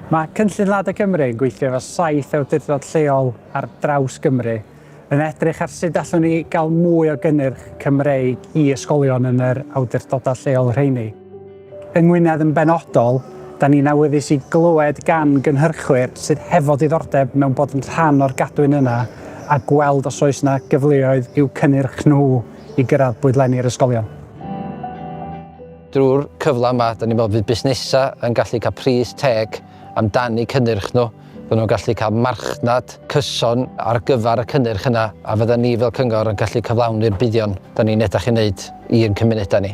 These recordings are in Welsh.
Mae Cynllun Lada Cymru yn gweithio efo saith awdurdod lleol ar draws Gymru, yn edrych ar sut allwn ni gael mwy o gynnyrch Cymreig i ysgolion yn yr awdurdodau lleol rheini. Yng Ngwynedd yn benodol, da ni'n awyddus i glywed gan gynhyrchwyr sydd hefo diddordeb mewn bod yn rhan o'r gadwyn yna a gweld os oes 'na gyfleoedd i'w cynnyrch nhw i gyrraedd bwydlenni'r ysgolion. Drwy'r cyfle yma, dan ni'n meddwl bydd busnesau yn gallu cael pris teg amdani cynnyrch nhw, fyddan nhw'n gallu cael marchnad cyson ar gyfer y cynnyrch yna a fyddan ni fel cyngor yn gallu cyflawni'r buddion dan ni'n edrych i wneud i'n cymunedau ni.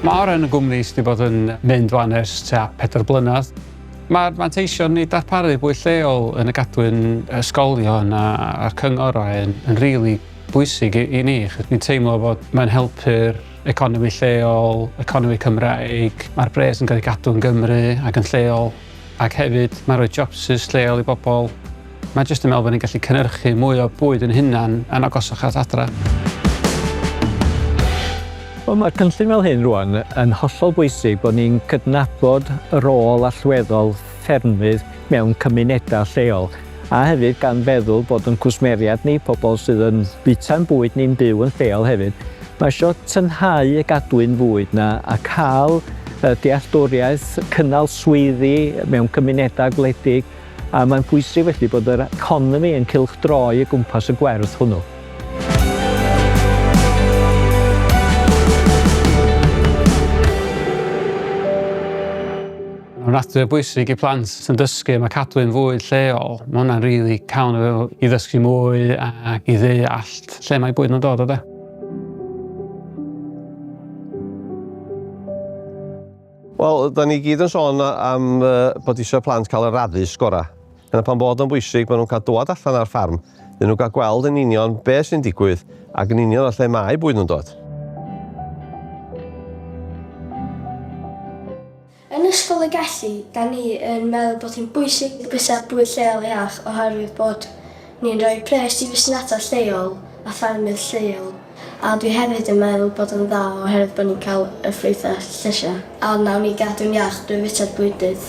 Mae arian y gwmni sydd wedi bod yn mynd 'wan ers tua pedair blynedd. Mae'r manteision i darparu bwyd lleol yn y gadwyn, ysgolion a, a'r cyngor a hyn yn rili bwysig i, i ni. Ni'n teimlo bod mae'n helpu'r economi lleol, economi Cymraeg, mae'r bres yn cael ei gadw yn Gymru ac yn lleol. Ac hefyd, mae'n rhoi jobsus lleol i bobl. Mae jyst yn meddwl bod ni'n gallu cynhyrchu mwy o bwyd yn hunan yn agosach at adra. Wel, mae cynllun fel hyn rwan yn hollol bwysig bod ni'n cydnabod y rôl allweddol ffermydd mewn cymunedau lleol. a hefyd gan feddwl bod yn cwsmeriaid ni, pobl sydd yn bwyta'n bwyd ni'n byw yn lleol hefyd, mae isio tynhau y gadwyn fwyd 'na a cael y dealltwriaeth, cynnal swyddi mewn cymunedau gwledig a mae'n bwysig felly bod yr economi yn cylchdroi o gwmpas y gwerth hwnnw. Mae'n ofnadwy o bwysig i plant sy'n dysgu, mae cadwyn fwy lleol, mae hwnna'n rili really cawn o fewn i ddysgu mwy ac i ddeallt lle mae bwyd yn dod o de. Wel, da ni gyd yn sôn am bod eisiau plant cael yr addysg gorau. Yna pan bod o'n bwysig bod nhw'n cael dod allan ar ffarm, dyn nhw'n cael gweld yn union beth sy'n digwydd ac yn union o lle mae bwyd nhw'n dod. Yn Ysgol y Gelli, da ni yn meddwl bod hi'n bwysig i bwysa bwyd lleol iach oherwydd bod ni'n rhoi pres i fusnesau lleol a ffermydd lleol a dwi hefyd yn meddwl bod o'n dda oherwydd bod ni'n cael y ffrwythau llysiau a wnawn ni gadw'n iach drwy fwyta'r bwydydd.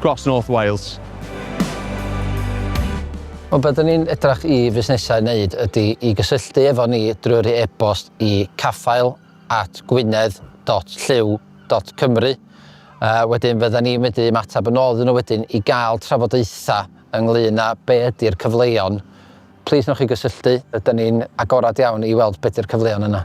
Cross North Wales. Ond be dyn ni'n edrach i fusnesau wneud ydy i gysylltu efo ni drwy'r i e-bost i caffael at gwynedd dot llyw dot cymru. Wedyn fyddan ni'n medru ymateb yn ôl iddyn nhw wedyn i gael trafodaethau ynglŷn â be ydy'r cyfleon. Plis newch chi gysylltu, rydyn ni'n agored iawn i weld be ydy'r cyfleon yna.